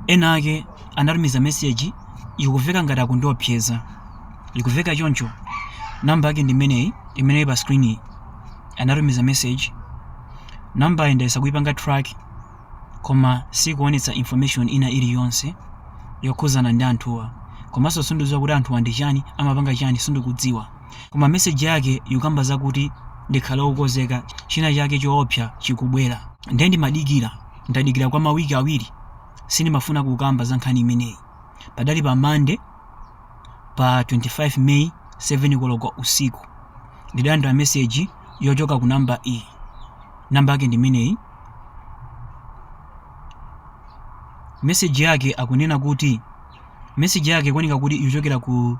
Enaake anatumiza message ikuveka ngati akundiopseza ikuveka choncho number yake ndi imeneyi imene ili pa screen iyi anatumiza message number yi ndayesa kuipanga track koma sikuonetsa information ina iliyonse yokhuzana ndi anthuwa komanso sindidziwa kuti anthuwa ndi chani amapanga chani sindikudziwa koma message yake ikukamba zakuti ndikhale wokozeka china chake choopsa chikubwera ndiye ndimadikira Ndadikira kwa mawiki awiri. Sindimafuna kukamba za nkhani imeneyi. Padali pa Monday, pa 25 May, 7 koloko usiku. Ndidalandira meseji yochoka ku namba iyi. Namba yake ndi imeneyi. Meseji yake akunena kuti meseji yake ikuoneka kuti ikuchokera ku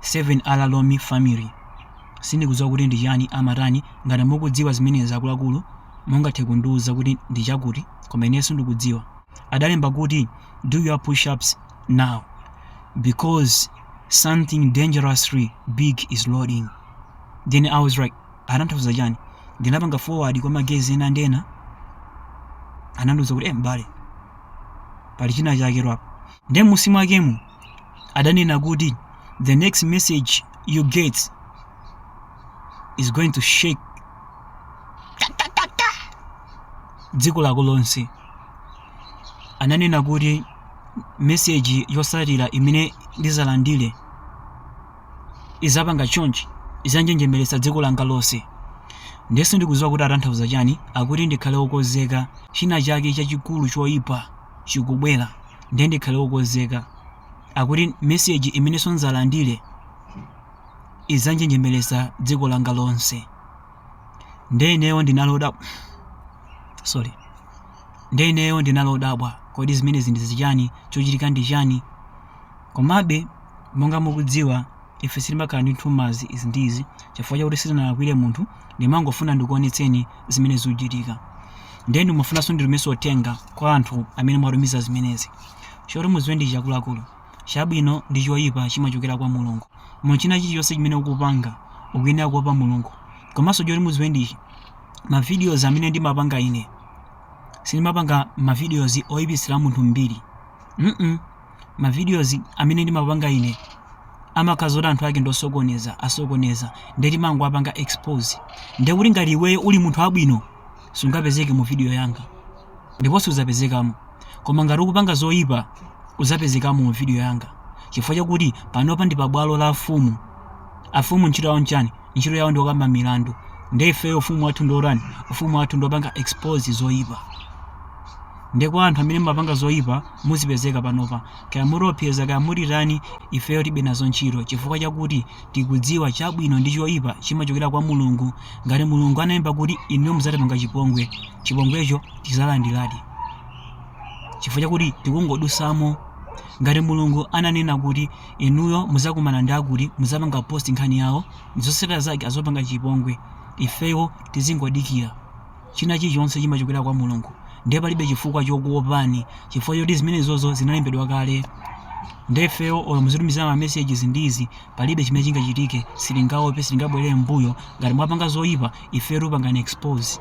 7 ala lomi family. Sindikudziwa kuti ndi chani amatani. Ngati mukudziwa zimenezi akuluakulu Mungathe kundiuza kuti ndi chakuti, koma ineyo sindikudziwa. Adalemba kuti, Do your push-ups now because something dangerously big is loading. Then I was like, atanthauza chani? Ndinapanga forward kwa ma guys ena ndi ena. Anandiuza kuti, eh, m'bale, pali china chake walakwa. Ndiye m'munsi mwakemo adanena kuti the next message you get is going to shake kakakaka dziko lako lonse ananena kuti meseji yotsatira imene ndizalandire izapanga chonchi izanjenjemeretsa dziko langa lonse nde sindikuziwa kuti atanthauza chani akuti ndikhale wokozeka china chake chachikulu choyipa chikubwera ndiye ndikhale wokonzeka akuti meseji imenenso ndzalandire idzanjenjemeretsa dziko langa lonse ndiye ineyo ndinali odabwa sorry ndiye ineyo ndinali odabwa kodi zimenezi ndi zichani chochitika ndi chani komabe monga mukudziwa Ife sitimakhala ndi nthumazi izi ndi izi chifukwa chakuti sitinalakwire munthu, ndimangofuna ndikuonetseni zimene zikuchitika. Ndiye ndikumafunanso nditumizenso uthenga kwa anthu amene mwatumiza zimenezi. Choti mudziwe ndi ichi akuluakulu, chabwino ndi choipa chimachokera kwa Mulungu. Mu china chilichonse chimene ukupanga, ukuyenera kuopa Mulungu. Komanso choti mudziwe ndi ichi, ma videos amene ndimapanga ine, sindimapanga ma videos oipitsira munthu mbiri. mm. ma videos amene ndimapanga ine amakhala kuti anthu ake ndosokoneza asokoneza nde timangowapanga expose nde kuti ngati iweyo uli munthu wabwino sungapezeke mu video yanga ndipo sudzapezekamo koma ngati ukupanga zoyipa udzapezekamo mu video yanga chifukwa chakuti panopa ndi pabwalo la afumu afumu ntchito yawo nchani ntchito yawo ndi kukamba milandu nde ifeyo ufumu wathu ndiotani ufumu wathu ndiopanga expose zoyipa nde kwa anthu amene mumapanga zoyipa muzipezeka panopa kaya muti opseza kaya mutitani ifeyo tilibe nazo ntchito chifukwa chakuti tikudziwa chabwino ndi choyipa chimachokera kwa mulungu ngati mulungu analemba kuti inuyo muzatipanga chipongwe chipongwecho tizalandiradi chifukwa chakuti tikungodusamo ngati mulungu ananena kuti inuyo muzakumana ndi akuti muzapanga post nkhani yawo ndizosatira zake azopanga chipongwe ifeyo tizingodikira china chilichonse chimachokera kwa mulungu ndiye palibe chifukwa chokuopani chifukwa choti zimenezozo zinalembedwa kale ndefeyo olo muzitumizana ma messages ndizi palibe chimene chingachitike sitingaope sitingabwerere mbuyo ngati mwapanga zoyipa ifeyo tikupangani expose